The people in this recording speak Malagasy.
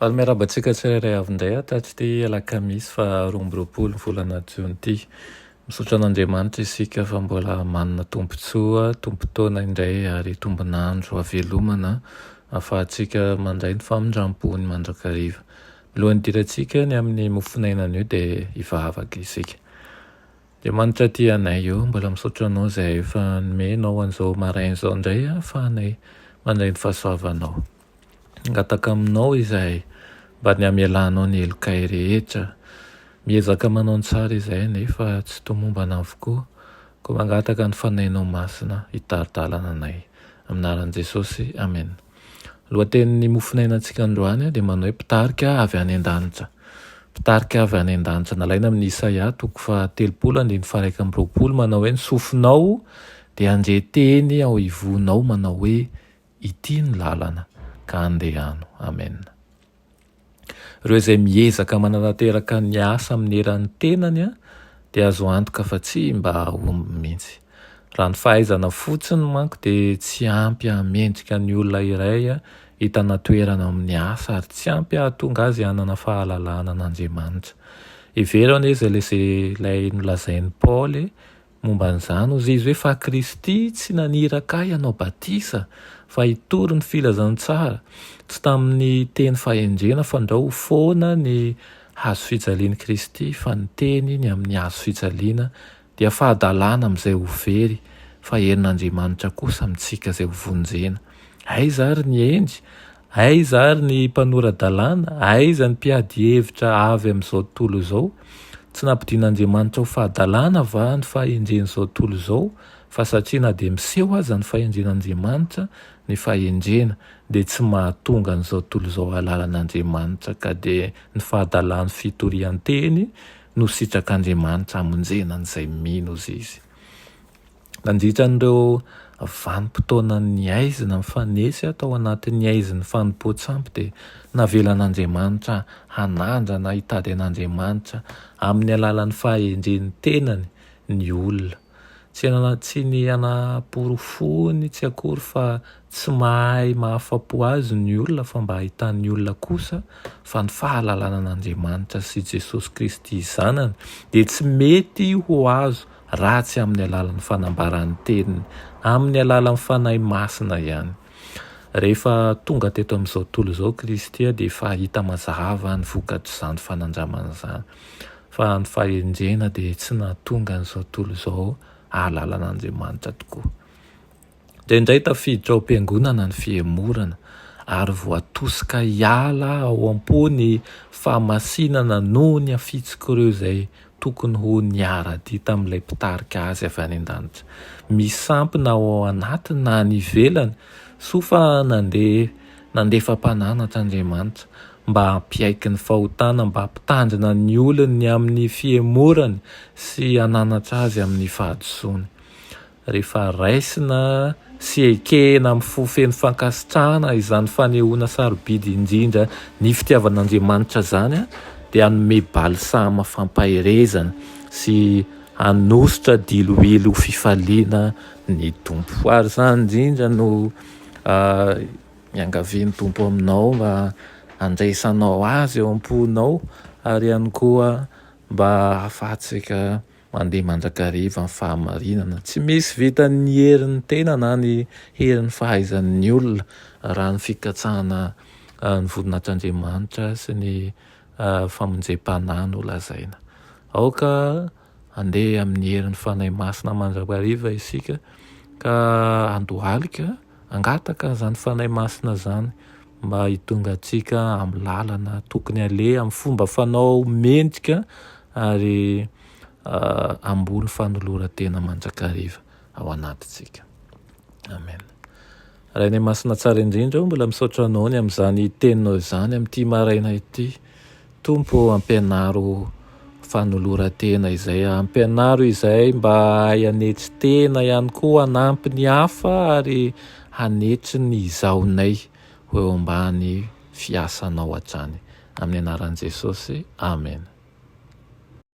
Faly miarahaba antsika tsirairay avy indray aho tato ity alakamisy faha roa amby roapolo ny volana jiona ity. Misaotra an'Andriamanitra isika fa mbola manana tombontsoa, tombon-taona indray ary tombon'andro havelomana ahafahantsika mandray ny famindrampony mandrakariva. Milohan'ny hidirantsika ny amin'ny mofonaina anio dia hivavaka isika. Andriamanitra aty anay o, mbola misaotra anao izay efa nomenao an'izao maraina izao indray ahafahanay mandray ny fahasoavanao. Mangataka aminao izahay mba ny hamelanao ny helokay rehetra. Miezaka manao ny tsara izahay nefa tsy tomombana avokoa, koa mangataka ny Fanahinao Masina hitari-dalana anay. Amin'ny anaran'i Jesosy, Amen. Lohatenin'ny mofonainantsika androany dia manao hoe Mpitarika avy any an-danitra. Mpitarika avy any an-danitra, nalaina amin'ny Isaia toko fahatelopolo andininy faharaika amby roapolo manao hoe, Ny sofinao dia handre teny ao ivonao manao hoe, Ity no lalana ka andehano. Amen. Ireo izay miezaka mananateraka ny asa amin'ny eran'ny tenany dia azo antoka fa tsy mba hahomby mihitsy. Raha ny fahaizana fotsiny manko dia tsy ampy hahamendrika ny olona iray hitana toerana amin'ny asa ary tsy ampy hahatonga azy hanana fahalalahana an'Andriamanitra. Hevero anie izay ilay nolazain'i Paoly Momba an'izany, hoy Izy hoe, Fa Kristy tsy naniraka ahy hanao batisa, fa hitory ny filazantsara, tsy tamin'ny teny fahendrena, fandrao ho foana ny Hazo fijalian'i Kristy, fa ny teny ny amin'ny Hazo fijaliana dia fahadalana amin'izay ho very, fa herin'Andriamanitra kosa amintsika izay ho vonjena. Aiza ary ny hendry? Aiza ary ny mpanora-dalàna? Aiza ny mpiady hevitra avy amin'izao tontolo izao? Tsy nampidin'Andriamanitra ho fahadalàna va ny fahendren'izao tontolo izao? Fa satria na dia miseho aza ny fahendren'Andriamanitra, ny fahendrena dia tsy mahatonga an'izao tontolo izao hahalala an'Andriamanitra ka dia ny fahadalàn'ny fitorian-teny no sitrak'Andriamanitra hamonjena an'izay mino Izy. Nandritra an'ireo vanim-potoana nihaizina mifanesy aho tao anatin'ny haizin'ny fanompoan-tsampy dia navelan'Andriamanitra hanandrana hitady an'Andriamanitra amin'ny alalan'ny fahendren'ny tenany ny olona. Tsy tsy ny hanaporofoany tsy akory fa tsy mahay mahafapo azy ny olona fa mba hahitan'ny olona kosa fa ny fahalalana an'Andriamanitra sy Jesosy Kristy Zanany dia tsy mety ho azo raha tsy amin'ny alalan'ny fanambaran'ny teniny, amin'ny alalan'ny Fanahy Masina ihany. Rehefa tonga teto amin'izao tontolo izao Kristy dia efa hita mazava ny vokatr'izany fanandramana izany, fa ny fahendrena dia tsy nahatonga an'izao tontolo izao hahalala an'Andriamanitra tokoa. Indraindray tafiditra ao am-piangonana ny fihemorana, ary voatosika hiala ao am-po ny fahamasinana noho ny hafitsik'ireo izay tokony ho niara-dia tamin'ilay Mpitarika azy avy any an-danitra. Misy sampy na ao anatiny na any ivelany, soa fa nandeha nandefa mpananatra Andriamanitra mba hampiaiky ny fahotana, mba hampitandrina ny olony amin'ny fihemorany sy hananatra azy amin'ny fahadisoany. Rehefa raisina sy ekena amin'ny fo feno fankasitrahana izany fanehoana sarobidy indrindra ny fitiavan'Andriamanitra izany, dia hanome balsama fampaherezana sy hanosotra diloilo ho fifaliana ny Tompo. Ary izany indrindra no iangavian'ny Tompo aminao mba handraisanao Azy eo am-ponao ary ihany koa mba hahafahantsika Mandeha mandrakariva ny fahamarinana. Tsy misy vitan'ny herin'ny tena na ny herin'ny fahaizan'ny olona raha ny fikatsahana ny voninahitr'Andriamanitra sy ny famonjem-panahy no lazaina. Aoka handeha amin'ny herin'ny Fanahy Masina mandrakariva isika ka handohalika Hangataka izany Fanahy Masina izany mba hitonga antsika amin'ny lalana tokony haleha, amin'ny fomba fanao mendrika ary hamboly fanoloran-tena mandrakariva ao anatintsika. Amen. Rainay Masina Tsara Indrindra ô, mbola misaotra Anao ny amin'izany Teninao izany amin'ity maraina ity. Tompo ô ampianaro fanoloran-tena izay ampianaro izay mba hahay hanetry tena ihany koa hanampy ny hafa ary hanetry ny izahonay ho eo ambany fiasanao hatrany amin'ny anaran'i Jesosy Amen.